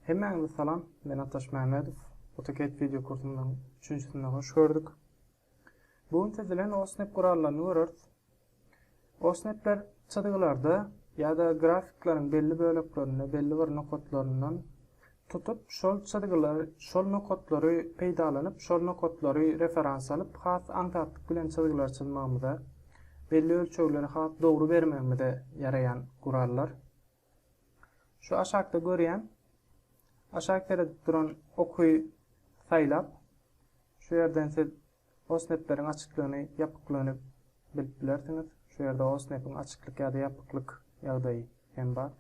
Hemmäňize salam, men Atdaş Mämmedow. AutoCAD wideo kursumyzyň üçünjisine hoş gördük. Bu gün siz bilen OSNEP gurallaryny göreris. OSNEPler çyzgylarda ýa-da grafikleriň belli böleklerinde belli bir nokatlaryndan tutup, şol çyzgylar, şol nokatlary peýdalanyp, şol nokatlary referans alyp, has aňsatlyk bilen çyzgylar çyzmagymyza, belli ölçegleri has dogry bermegimize ýaraýan gurallar. Şu aşakda görýän, aşak seredip duran oky saýlap, şu ýerden siz osnepleriň açyklygyny, ýapyklygyny bilip bilersiňiz. Şu ýerde osnepiň açyklyk ýa-da ýapyklyk ýagdaýy hem bar.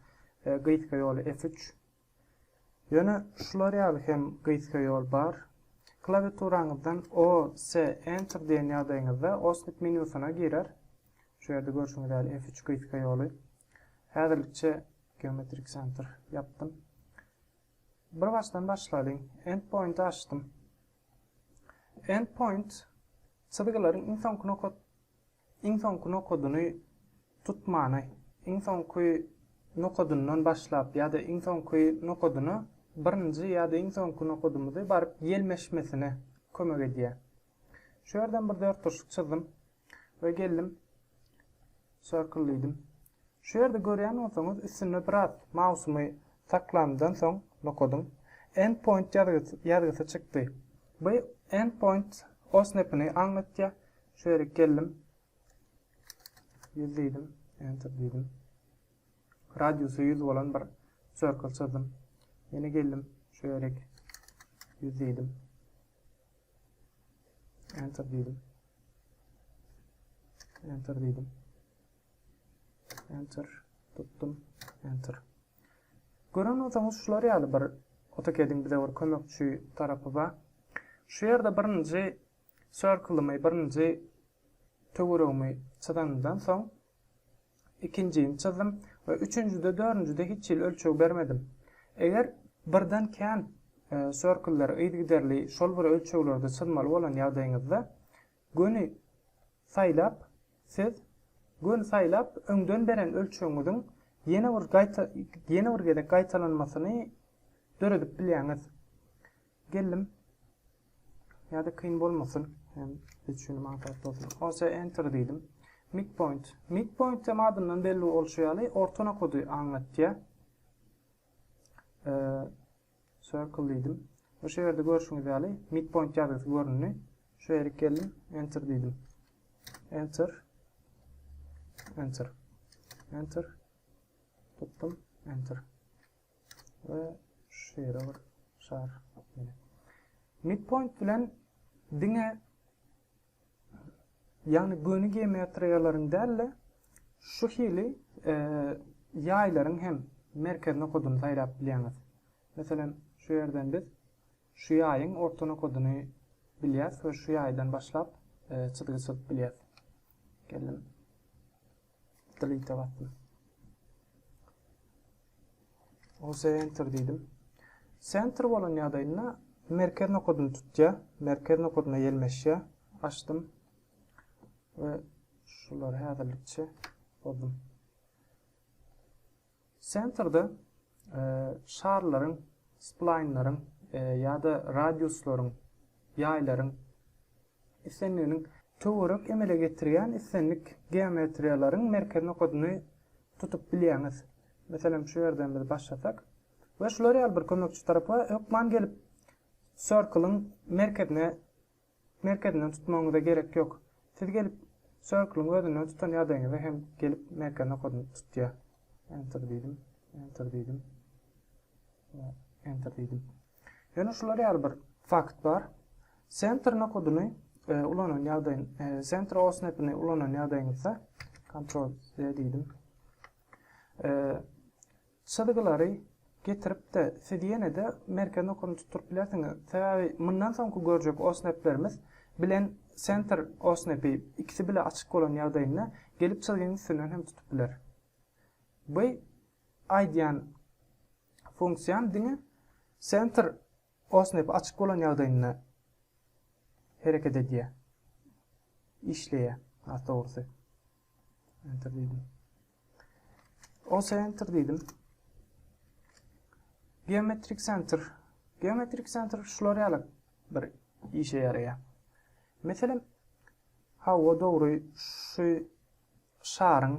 Gysga ýoly F3. Ýöne şular ýaly hem gysga ýol bar. Klawiaturaňyzdan OS, Enter diýen ýagdaýyňyzda OSNet menýusyna girer. Şu ýerde görşüňiz ýaly F3 gysga ýoly. Häzirlikçe Geometrik Center ýapdym. Bir başdan başlalyň. Endpoint açdym. Endpoint çyzgylaryň iň soňky Iň soňky nokadyny tutmany, iň soňky nokadyndan başlap ýa-da iň soňky nokadyna birinji ýa-da iň soňky nokadymyzy baryp ýelmeşmesine kömek edýär. Şu ýerden bir dörtburçluk çyzdym we geldim circle diýdim. Şu ýerde görýän bolsaňyz üstünde biraz mausumy saklamdan soň nokadyň End point ýazgysy çykdy. Bu End point osnepini aňlatýar. Şu ýerik geldim. 100 diýdim. Enter diýdim. Radiusy 100 bolan bir circle çyzdym. Ýene geldim. Şu ýerik 100 diýdim. Enter diýdim. Enter diýdim. Enter tutdum. Enter. Gören bolsaňyz şular ýaly bir AutoCAD-iň bize bir kömekçi tarapy bar. Şu ýerde birinji Circle-ymy birinji töweregimi çyzanymdan soň ikinjini çyzdym we üçünjide dördünjide hiç hili ölçeg bermedim. Eger birden kän circle-leri yzygiderli şol bir ölçeglerde çyzmaly bolan ýagdaýyňyzda göni saýlap siz göni saýlap öňden beren ölçegiňiziň ýene bir ýene bir gezek gaýtalanmasyny döredip bilýäňiz. Geldim. Ýa-da kyn bolmasyn. Hem biz üçin maňtaýt bolsun. OC enter diýdim. Midpoint. Midpoint hem adyndan belli bolşy ýaly orta nokady aňlatýar. Ee, circle diýdim. Bu şerde görüşüňiz ýaly midpoint ýazgysy göründi. Şu ýere geldim, enter diýdim. Enter. Enter. Enter. Tutdum, enter. we şeýle bir şar. Midpoint bilen diňe ýagny göni geometriýalaryň däl-de şu hili e, ýaýlaryň hem merkez nokadyny saýlap bilýäňiz. Meselem, şu ýerden biz şu ýaýyň orta nokadyny bilýäs we şu ýaýdan başlap e, çyzgy çyzyp bilýäs. Geldim. Delete-e basdym. Ose enter diýdim. Center bolan ýagdaýynda merkez nokadyny tutýar. Merkez nokadyna ýelmeşýär. Açdym. Ve şular häzirlikçe bozdum. Sensorda şarlaryň, splaýnlaryň ýa-da radiuslaryň, ýaýlaryň, islendiginiň töwerek emele getirýän islendik geometriýalaryň merkez nokadyny tutup bilýäňiz. Meselem, şu ýerden biz başlasak we şular ýaly bir kömekçi tarapa hökman gelip, circle-yň merkezine Merkezinden tutmagyňyza gerek ýok. Siz gelip circle-yň özünden tutan ýagdaýyňyzda hem gelip merkezini okadyny tutýar. Enter diýdim. Enter diýdim. We enter diýdim. Ýöne şular ýaly bir fakt bar. Center nokadyny e, ulanan ýagdaýyn, e, center osnapini ulanan ýagdaýyňyzda Ctrl Z diýdim. E, Çyzgylary getirip-de siz ýene-de merkez nokany tutduryp bilersiňiz. Sebäbi mundan soňky görjek OSNAP-lerimiz bilen senter OSNAP-i ikisi bile açyk bolan ýagdaýynda gelip çyzgyň üstünden hem tutup biler. Bu aýdýan funksiýam diňe senter OSNAP-i açyk bolan ýagdaýynda hereket edýär. Işleýär has dogrusy. Enter diýdim. O center diýdim. Geometrik center. Geometrik center şular ýaly bir işe ýaraýar. Meselem, hawa dogry şu şaryň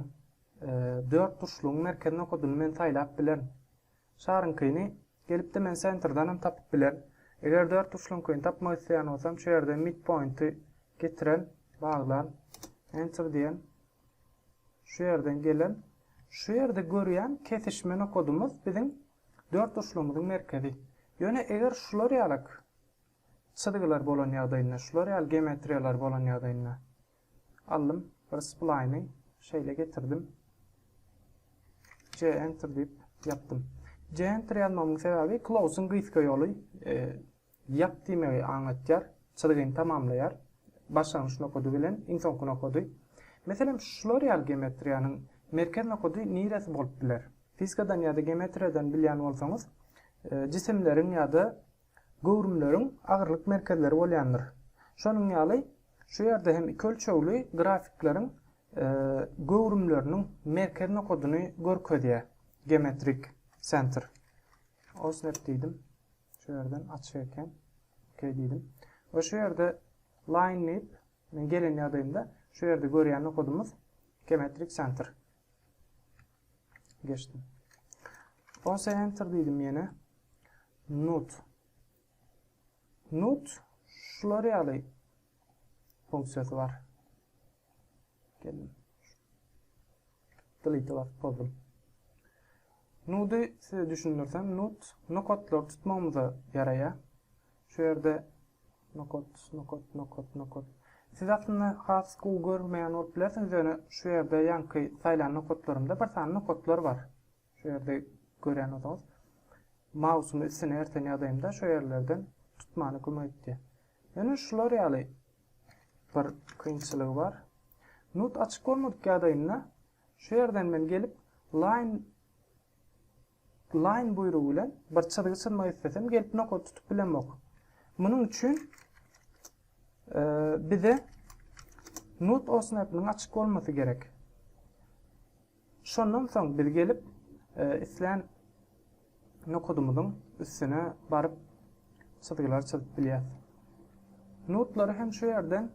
e, dört burçlugyň merkezine okadyny men saýlap bilerin. Şaryňkyny gelipde men sentrdan hem tapyp bilerin. Eger dört burçlugyňkyny tapmak isleýän bolsam, şu ýerde midpointi getiren, baglan, enter diýen, Şu ýerden gelen, şu ýerde görýän kesişme nokadymyz biziň dörtburçlygymyzyň merkezi. Ýöne eger şular ýaly çyzgylar bolan ýagdaýynda, şular ýaly geometriýalar bolan ýagdaýynda, aldym bir splaýny, şeýle getirdim. Center diýip ýapdym. Center ýazmamyň sebäbi close-yň gysga ýoly. Ýap diýmegi aňlatýar. Çyzgyny tamamlaýar. Başlangyç nokady bilen iň soňky nokady. Meselem, şular ýaly geometriýanyň merkez nokady niresi bolup biler? Fizikadan ýa-da geometriýadan bilýän bolsaňyz, jisimleriň ýa-da göwrümleriň agyrlyk merkezleri bolýandyr. Şonuň ýaly, şu ýerde hem iki ölçegli grafikleriň göwrümleriniň merkez nokadyny görkezýär geometrik sentr. Osnep diýdim. Şu ýerden açyk eken. OK diýdim. We şu ýerde line nip men gelen ýagdaýymda şu ýerde görýän nokadymyz geometrik center. Geçdim. Onsa enter diýdim ýene. Nut. Nut şular ýaly funksiýasy bar. Geldim. Delete basyp bozdum. Nudy size düşündirsem, nut nokotlary tutmagymyza ýaraýar. Şu ýerde nokot, nokot, nokot, nokot. Siz aslynda has gowy görmeýän bolup bilersiňiz, ýöne şu ýerde ýaňky saýlan nokotlarymda bir sany nokotlar bar. Şu ýerde gören bolsaňyz, mausumy üstüne erten ýazaýmda şu ýerlerden tutmana kömek etýär. Ýöne şular ýaly bir kynçylygy bar. Nut açyk bolmadyk ýagdaýynda şu ýerden men gelip line line buýrugy bilen bir çyzgy çyzmak islesem gelip nokat tutup bilemok. Munuň üçin bize nut osnapynyň açyk bolmasy gerek. Şondan soň biz gelip, islän nokadymyzyň üstüne baryp çyzgylar çyzyp bilýäs. Nodlary hem şu ýerden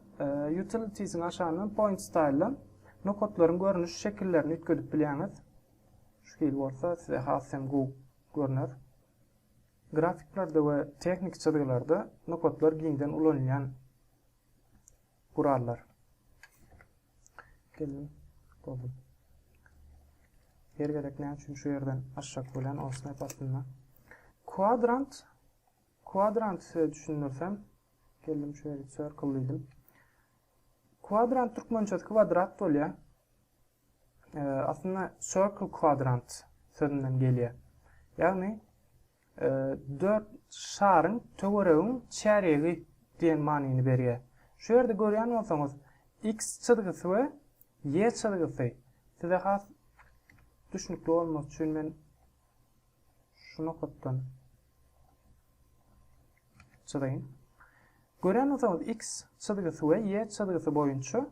Utilities-iň aşagyndan Point Style-dan nokatlaryň görnüş şekillerini üýtgedip bilýäňiz. Şu hili bolsa size has hem gowy görner. Grafiklerde we tehniki çyzgylarda nokatlar giňden ulanylýan gurallar. Geldim. Boldum. Her gezek näme üçin şu ýerden aşak bolýan o snap aslynda. Kwadrant kwadrant size düşündirsem geldim şu ýere circle diýdim. Kwadrant türkmençesi kwadrat bolýar. E, aslynda circle kwadrant sözünden gelýär. Ýagny Dört şaryň, töweregiň çärýegi diýen manyny berýär. Şu ýerde görýän bolsaňyz, X çyzgysy we Y çyzgysy. Size has düşnükli bolmak üçin men şu nokatdan çyzaýyn. Görýän bolsaňyz, X çyzgysy we Y çyzgysy boýunça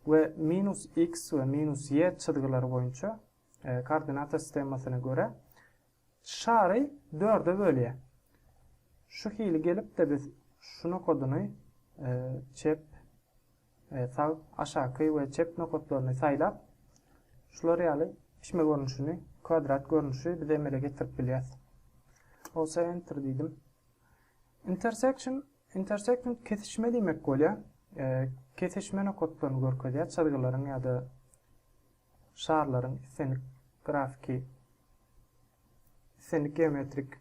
we minus X we minus Y çyzgylary boýunça e, koordinata sistemasyna görä Şary dörde bölýä. Şu hili gelipde biz şu nokadyny çep we sag, aşaky we çep nokatlaryny saýlap, şular ýaly pişme görnüşini, kwadrat görnüşi biz emele getirip bilýäs. Bolsa enter diýdim. Intersection, intersection kesişme diýmek bolýa. Kesişme nokatlaryny görkezýä, çyzgylaryň ýa-da şarlaryň islendik grafiki, islendik geometrik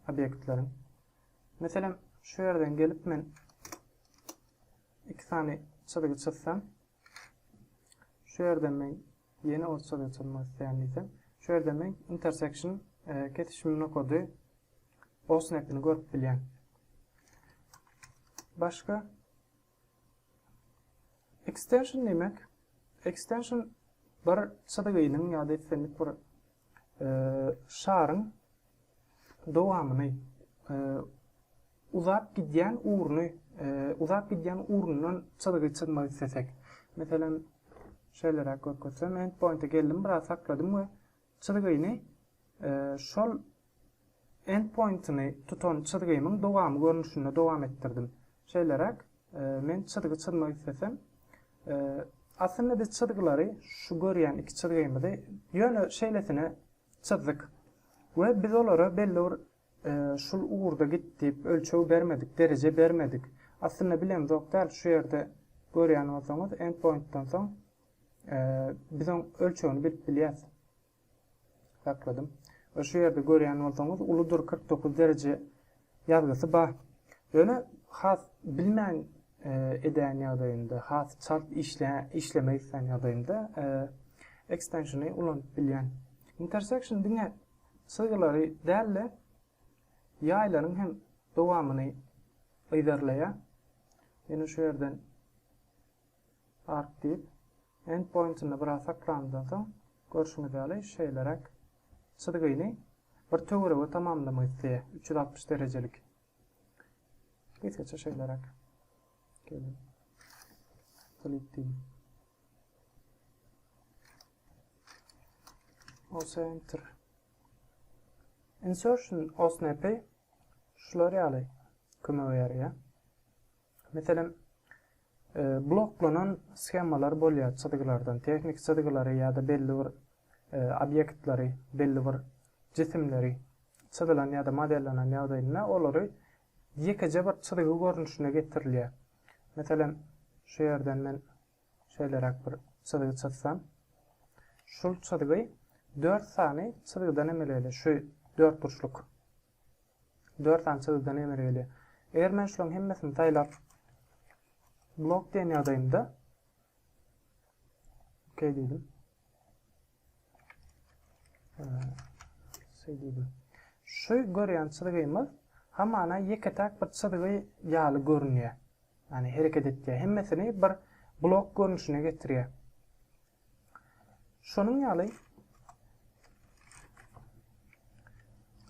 obýektleriň. Meselem, şu ýerden gelip men iki sany çyzgy çyzsam, şu ýerden men ýene o çyzgy çyzmak isleýän diýsem, şu ýerden men intersection e, kesişim nokady o snapini görüp bilýän. Başga Ekstension diýmek, ekstension bir çyzgynyň ýa-da islendik bir şaryň dowamyny uzap gidýän ugruny uzap gidýän ugrundan çyzgy çyzmak islesek. Meselem, şeýleräk görkezsem, end pointa geldim, biraz sakladym we Çyzgyny şol endpointini tutan çyzgymyň dowamy görnüşinde dowam etdirdim. Şeýleräk, men çyzgy çyzmak islesem, aslynda biz çyzgylary, şu görýän iki çyzgymyzy ýöne şeýlesine çyzdyk we biz olara belli bir şul ugurda git diýip ölçeg bermedik, dereje bermedik. Aslynda bilemzok däl, şu ýerde görýän bolsaňyz, endpointden soň Biz oň ölçegini bilip bilýäs. Sakladym. We şu ýerde görýän bolsaňyz uludyr kyrk dokuz dereje ýazgysy bar. Ýöne has bilmän edýän ýagdaýymda, has çalt işlemek isleýän ýagdaýymda ekstenşini ulanyp bilýän. Intersection diňe çyzgylary däl-de ýaýlaryň hem dowamyny yzarlaýar. Ýöne şu ýerden Ark diýip, endpointinde biraz saklanandan soň, görşüňiz ýaly, şeýleräk çyzgyny bir töwerege tamamlamak isleýär, üç ýüz altmyş derejelik. Gysgaça şeýleräk. Gelin. Klik diýin. Olsa enter. Insertion OSNP şular ýaly kömek berýär. Meselem, bloklanan shemalar bolýar çyzgylardan, tehniki çyzgylary ýa-da belli bir obýektleri, belli bir jisimleri çyzylan ýa-da modellenen ýagdaýynda olary ýekeje bir çyzgy görnüşine getirilýär. Meselem, şu ýerden men şeýleräk bir çyzgy çyzsam, şul çyzgy dört sany çyzgydan emele gelýär, şu dörtburçluk. Dört sany çyzgydan emele gelýär. Eger men şularyň hemmesini saýlap blok diýen ýagdaýymda OK diýdim. Şey diýdim. Şu görýän çyzgymyz hamana ýeke-täk bir çyzgy ýaly görünýär. Ýani hereket etýär. Hemmesini bir blok görnüşine getirýär. Şonuň ýaly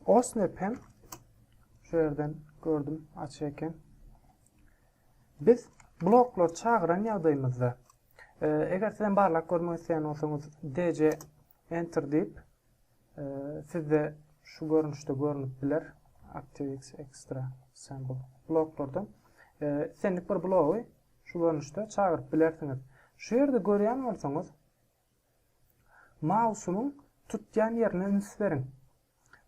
Osnep hem şu ýerden gördüm açy eken. Biz bloklary çagyran ýagdaýymyzda e, eger sizem barlak görmek isleýän bolsaňyz DC enter diýip e, sizde şu görnüşde görünip biler. ActiveX Extra Sample bloklardan. E, Senlik bir blogy Şu görnüşde çagyryp bilersiňiz. Şu ýerde görýän bolsaňyz, mausynyň tutýan ýerine üns beriň.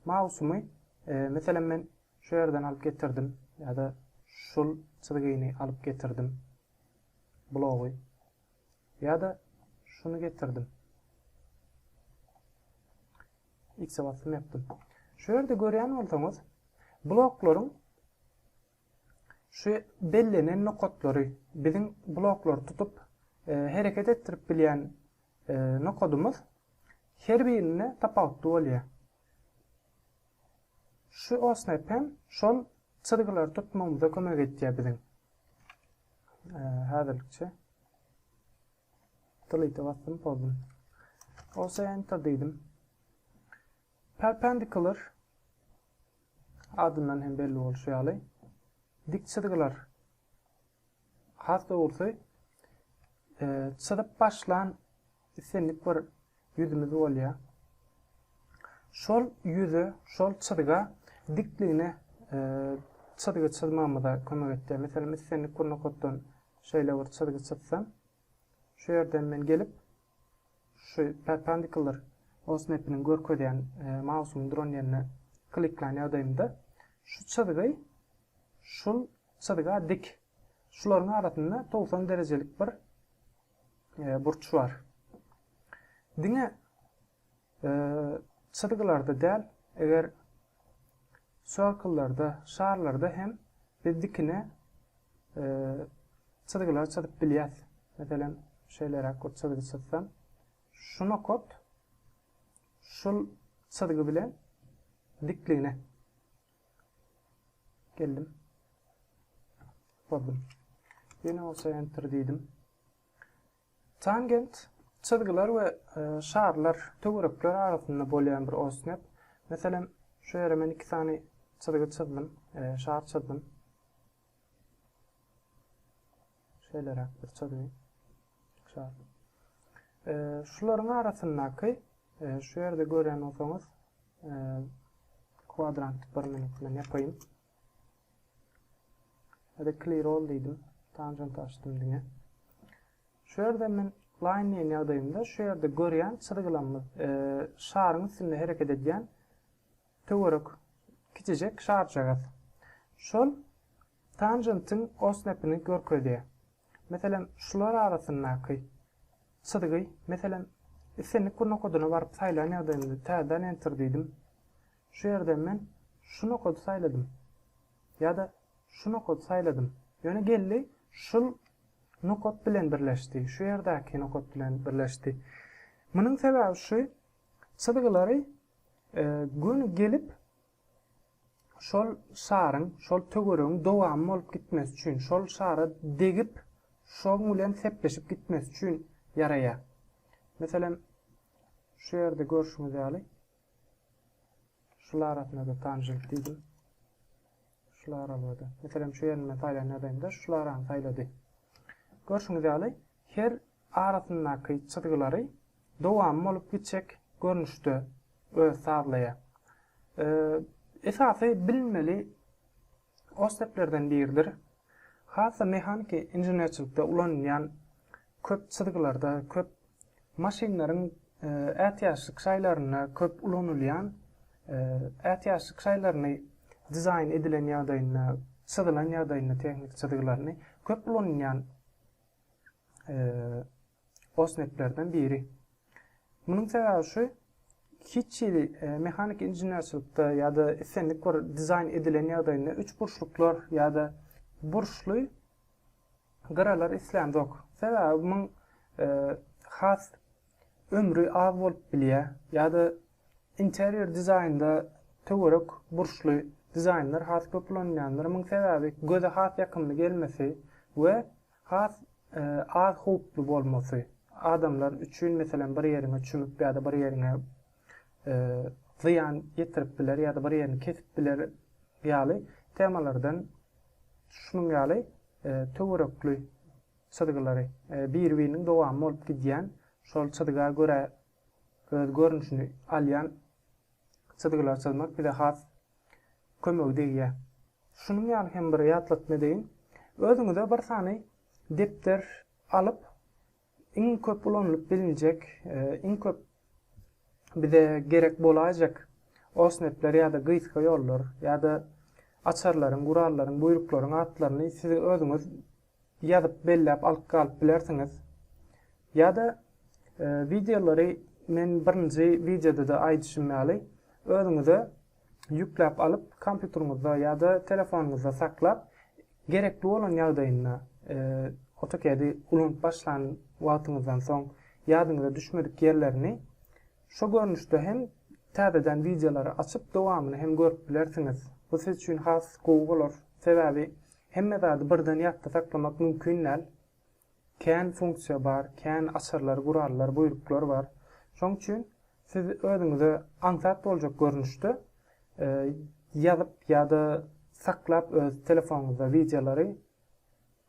Mausumy, meselem, men şu ýerden alyp getirdim ýa-da şul çyzgyny alyp getirdim, blogy, ýa-da şuny getirdim. X-e basym ýapdym. Şu ýerde görýän bolsaňyz, bloklaryň Şu bellenen nokatlary biziň bloklary tutup hereket etdirip bilýän nokadymyz her birinde tapawutly bolýar. Şu osnap hem şol çyzgylary tutmagymyza kömek etýär biziň. Häzirlikçe delete basdym, pozdum. Ose enter diýdim. Perpendikular, adyndan hem belli bolşy ýaly, dik çyzgylar. Has dogrusy, çyzyp başlan islendik bir ýüzümiz bolýar. Şol ýüze, şol çyzga dikligine çyzgy çyzmagymyza kömek etýär. Meselem, islendik bir nokatdan şeýle bir çyzgy çyzsam, şu ýerden men gelip, Şu Perpendicular osmapiniň görkezýän mausumy duran ýerine kliklän ýagdaýymda şu çyzgy şul çyzga dik. Şularyň arasynda togsan derejelik bir burç bar. Diňe Çyzgylarda däl, eger circle-larda, şarlarda hem biz dikine çyzgylar çyzyp bilýäs. Meselem, şeýleräk bir çyzgy çyzsam, şu nokat şul çyzgy bilen dikligine geldim. Goldum. Ýene bolsa enter diýdim. Tangent, çyzgylar we şarlar, töwerekler arasynda bolýan bir osnep. Meselem, şu ýere men iki sany çyzgy çyzdym, şar çyzdym. Şeýleräk bir çyzgy, şar. Şularyň arasyndaky, şu ýerde görýän bolsaňyz, kwadrant bir minut men ýapaýyn. Hadi clear all diýdim. Tangent açdym diňe. Şu ýerde men line diýen ýagdaýymda şu ýerde görýän çyzgylarymyz e, şaryň üstünde hereket edýän töwerek kiçijek şarjagaz. Şol tangentiň osnepini görkezýär. Meselem, şular arasyndaky çyzgy, meselem, islendik bir nokadyna baryp saýlan ýagdaýymda täzeden enter diýdim. Şu ýerden men şu nokady saýladym. Ýa-da şu nokady saýladym. Ýöne geldi şul nokat bilen birleşdi. Şu ýerdäki nokat bilen birleşdi. Munuň sebäbi şu çyzgylary göni gelip şol şaryň, şol töweregiň dowamy bolup gitmesi üçin, şol şara degip şoň bilen sepleşip gitmesi üçin ýaraýar. Meselem şu ýerde görşüňiz ýaly. Şul arasynda-da tanjylyk diýdim. Şul aralgada. Meselem, şu ýerini men saýlan ýagdaýymda şul arany saýlady. Görşüňiz ýaly, her arasyndaky çyzgylary dowam bolup gitjek görnüşde öz sazlaýar. Esasy bilmeli Orseplerden biridir. Has-da mehaniki inženerçilikde ulanylýan köp çyzgylarda, köp maşynlaryň ätiýaçlyk şaýlarynda köp ulanylýan, ätiýaçlyk şaýlaryny dizaýn edilen ýagdaýynda, çyzylan ýagdaýynda tehniki çyzgylaryny köp ulanylýan OSNEP-lerden biri. Munuň sebäbi şu, hiç hili mehanik inženerçilikde ýa-da islendik bir dizaýn edilen ýagdaýynda üçburçluklar ýa-da burçly gyralar islenizok. Sebäbi muň has ömri az bolup bilýär ýa-da interior dizaýnda töwerek burçly dizaýnlar has köp ulanylýandyr. Muň sebäbi göze has ýakymly gelmesi we Has az howply bolmasy, adamlar üçin meselem bir ýeriňe çümüp ýa-da bir ýeriňe zyýan ýetirip biler ýa-da bir ýerini kesip biler ýaly temalardan şunuň ýaly töwerekli çyzgylary bir-biriniň dowamy bolup gidýän şol çyzga görä öz görnüşini alýan çyzgylary çyzmak bize has kömegi degýär. Şunuň ýaly hem bir ýatlatma edeýin. Özüňize bir sany depder alyp, iň köp ulanylyp bilinjek, iň köp bize gerek bolaýjak osnepler ýa-da gysga ýollar ýa-da açarlaryň, gurallaryň, buýruklaryň atlaryny siz özüňiz ýazyp belläp alyp galyp bilersiňiz. Ýa-da wideolary men birinji wideoda-da aýdyşym ýaly özüňize ýükläp alyp kompýuteriňizde ýa-da telefonyňyzda saklap gerekli bolan ýagdaýynda AutoCAD-i ulanyp başlan wagtyňyzdan soň ýadyňyza düşmedik ýerlerini şo görnüşde hem täzeden wideolary açyp dowamyny hem görüp bilersiňiz. Bu siz üçin has gowy bolar. Sebäbi Hemme zady birden ýatda saklamak mümkin däl. Kän funksiýa bar, kän açarlar, gurallar, buýruklar bar. Şoň üçin siz özüňize aňsat boljak görnüşde ýazyp ýa-da saklap öz telefonyňyzda wideolary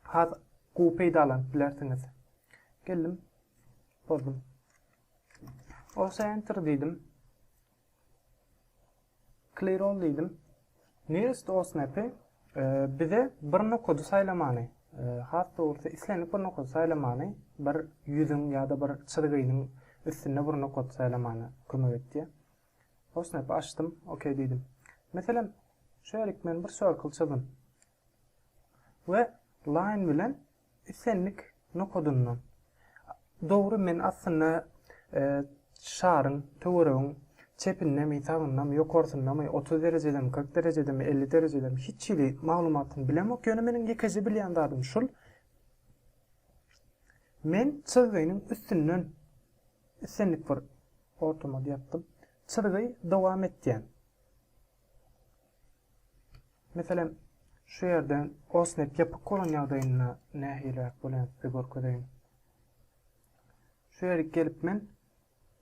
has gowy peýdalanyp bilersiňiz. Geldim, bozdum. Osa enter diýdim. Clear all diýdim. Nearest OSNAP-y e, bize bir nokady saýlamany, e, has dogrusy islendik bir nokady saýlamany, bir ýüzüň ýa-da bir çyzgynyň üstünde bir nokady saýlamany kömek etdi. OSNAP-y açdym, OK diýdim. Meselem, şeýlelik men bir circle çyzdym. We line bilen Islendik nokadyndan. Dogry men aslynda şaryň, töweregiň çepindemi, sagyndamy, ýokarsyndamy, otuz derejedemi, kyrk derejedemi, elli derejedemi hiç hili maglumatyny bilemok, ýöne meniň ýekeje bilýän zadym şul, men çyzgynyň üstünden islendik bir ortama ýapdym, çyzgy dowam etýän. Meselem, şu ýerde OSNET ýapyk bolan ýagdaýynda nähiliräk bolýandygyny size görkezeýin. Şu ýerik gelip men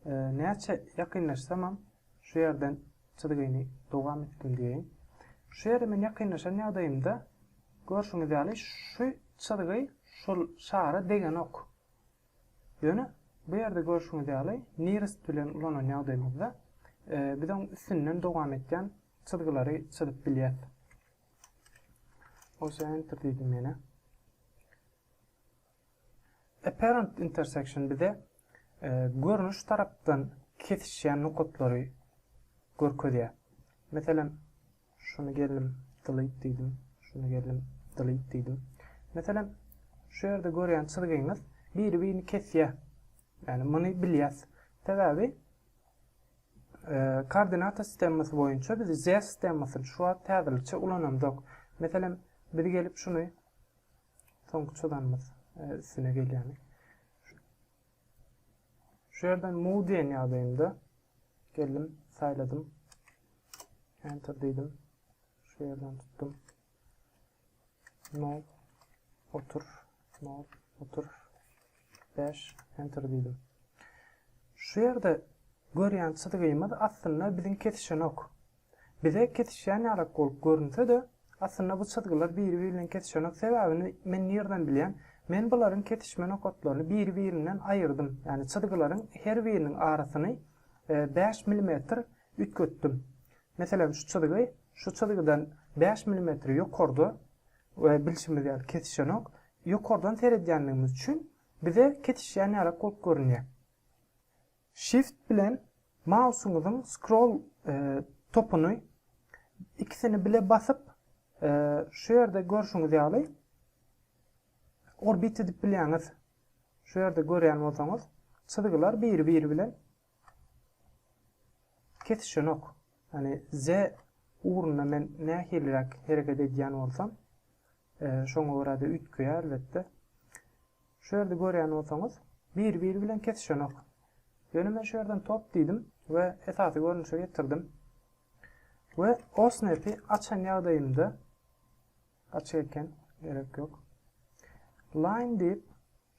e, näçe ýakynlaşsamam şu ýerden çyzgyny dowam etdim diýeýin. Şu ýere men ýakynlaşan ýagdaýymda görşüňiz ýaly şu çyzgy şol şara degenok. Ýöne bu ýerde görşüňiz ýaly nearest bilen ulanan ýagdaýymyzda biz oň üstünden dowam etýän çyzgylary çyzyp bilýäs. Osa enter diýdim ýene. Apparent intersection bize görnüş tarapdan kesişýän nokatlary görkezýär. Meselem, Şuny gelnim delete diýdim. Şuny gelnim delete diýdim. Meselem, şu ýerde görýän çyzgyňyz biri-birini kesýär. Ýagny muny bilýäs. Sebäbi koordinata sistemasy boýunça biz z sistemasyny şu wagt häzirlikçe ulanamzok. Meselem, biz gelip şuny soňky çyzanymyz üstüne gelýämi? Şu ýerden move diýen ýagdaýymda geldim, saýladym. Enter diýdim. Şu ýerden tutdum. Nol, otur, nol, otur, 5, enter diýdim. Şu ýerde görýän çyzgymyz aslynda biziň kesişenok. Bize kesişýän ýalak bolup görünse-de, aslynda bu çyzgylar biri-biri bilen kesişenok, sebäbini men nirden bilýän? Men bularyň kesişme nokatlaryny biri-birinden aýyrdym, ýagny çyzgylaryň her biriniň arasyny bäş milimetr üýtgetdim. Meselem, şu çyzgy şu çyzgydan bäş milimetr ýokarda we bilşimiz ýaly kesişenok. Ýokardan seredýändigimiz üçin bize kesişýän ýalak bolup görünýär. Shift bilen mausyňyzyň scroll topuny ikisini bile basyp şu ýerde görşüňiz ýaly orbit edip bilýäňiz. Şu ýerde görýän bolsaňyz çyzgylar biri biri bilen kesişenok. Ýani Z ugrunda men nähiliräk hereket edýän bolsam Şoňa görä-de üýtgeýär elbetde. Şu ýerde görýän bolsaňyz, biri-biri bilen kesişenok. Ýöne men şu ýerden top diýdim we esasy görnüşe getirdim. We OSNAP-i açan ýagdaýymda açyk eken, gerek ýok. Line diýip,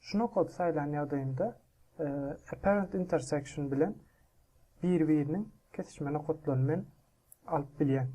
şu nokady saýlan ýagdaýymda e, apparent intersection bilen biri-biriniň kesişme nokatlaryny men alyp bilýän.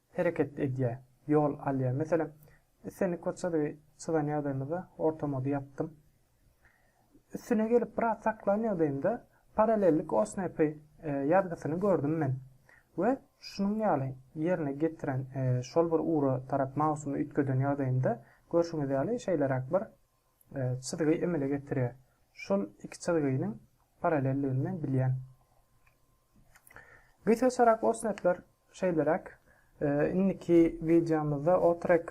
hereket edýär, ýol alýar. Meselem, islendik bir çyzygy çyzan ýagdaýymyzda orta mody ýapdym. Üstüne gelip biraz saklan ýagdaýymda parallellik osnepy ýazgysyny gördüm men we şunuň ýaly ýerine getiren şol bir ugra tarap mausumy üýtgeden ýagdaýymda görşüňiz ýaly şeýleräk bir çyzgy emele getirýär. Şol iki çyzgynyň parallelligini men bilýän. Gysgaçarak osnetler şeýleräk. Indiki wideomyzda otrek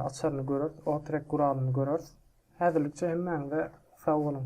açaryny göreris, otrek guralyny göreris. Häzirlikçe hemmäňize sag boluň.